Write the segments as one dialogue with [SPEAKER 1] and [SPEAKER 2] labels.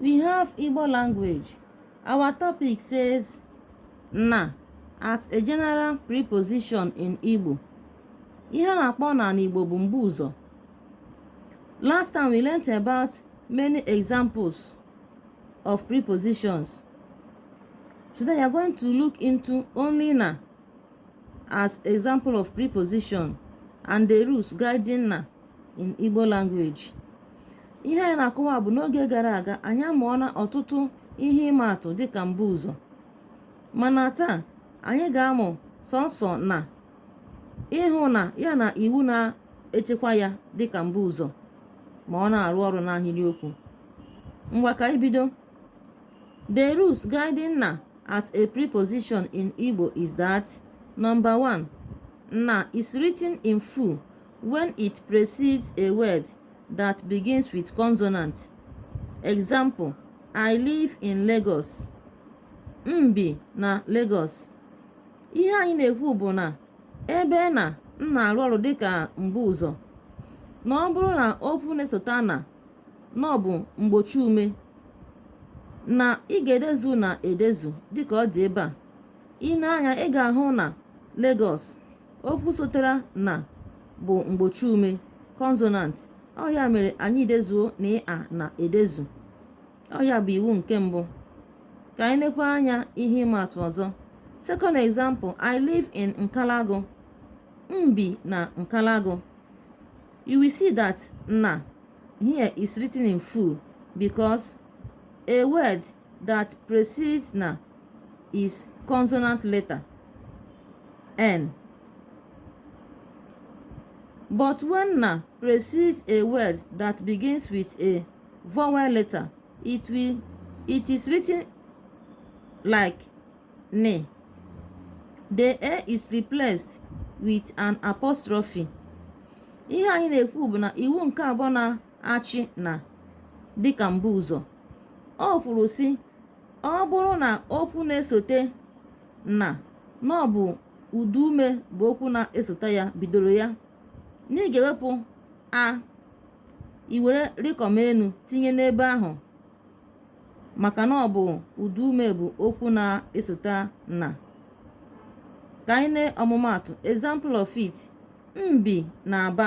[SPEAKER 1] we have Igbo language our topic says na as a general preposition in Igbo ihe na-akpọ na n'Igbo bụ mbu ụzọ last time we learnt about many examples of prepositions today we are going to look into only na as example of preposition and the rules guiding na in Igbo language. ihe anyị na-akọwa bụ n'oge gara aga anyị amụọla ọtụtụ ihe ịma atụ dịka mbuụzọ mana taa anyị ga-amụ sọnsọ na ị hụna ya na iwu na-echekwa ya dịka mbuụzọ ma ọ na-arụ ọrụ n'ahịrịokwu ngwa ka anyị bido the rules guiding na as a preposition in Igbo is that number one na is written in full when it precedes a word that begins with consonant. Example, I live in Lagos. M bi na Lagos. Ihe anyị na-ekwu bụ na ebe na na-arụ ọrụ dịka mbuụzọ na ọ bụrụ na okwu na-esota na na ọ bụ mgbochi ume na ị ga-edezu na edezu dịka ọ dị ebe a. I nee anya ị ga-ahụ na Lagos okwu sotere na bụ mgbochi ume consonant ọ ya mere anyị dezuo na ịa na edezu ọ ya bụ iwu nke mbụ ka anyị nekwa anya ihe ịma atụ ọzọ second example i live in nkalagu m bi na nkalagu you will see that na here is written in full because a word that precedes na is consonant letter n but when na precedes a word that begins with a vowel letter it is written like ne the a is replaced with an apostrophe ihe anyị na-ekwu bụ na iwu nke abụọ na achị na dịka mbuụzọ o kwuru sị ọ bụrụ na okwu na-esote na na ọ bụ ụda ume bụ okwu na-esote ya bidoro ya na ị ga-ewepụ a i were rịkọm enu tinye n'ebe ahụ maka na ọ bụ ụda ume bụ okwu na-esote na ka anyị ne ọmụmaatụ example of it m bi n'aba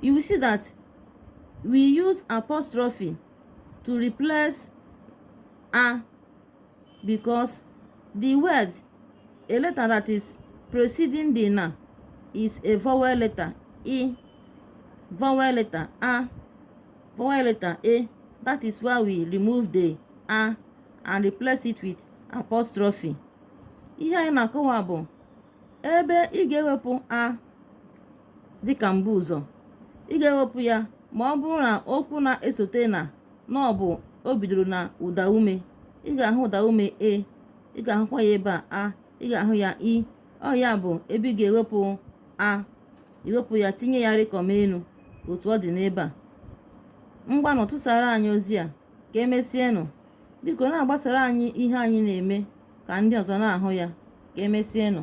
[SPEAKER 1] you will see that we use apostrophe to replace a because the word a letter that is preceding the na is a vowel letter e vowel letter a vowel letter a that is why we remove the a and replace it with apostrophe ihe anyị na-akọwa bụ ebe ị ga-ewepụ a dịka mbuụzọ ị ga-ewepụ ya ma ọ bụrụ na okwu na-esote na na ọ bụ o bidoro na ụda ume ị ga-ahụ ụda ume e ị ga-ahụkwa ya ebe a ị ga-ahụ ya i ọ ya bụ ebe ị ga-ewepụ a i wepụ ya tinye ya rịkọm enu otu ọ dị n'ebe a ngwanụ tụsara anyị ozi a ka emesienụ biko na-agbasara anyị ihe anyị na-eme ka ndị ọzọ na-ahụ ya ka emesienụ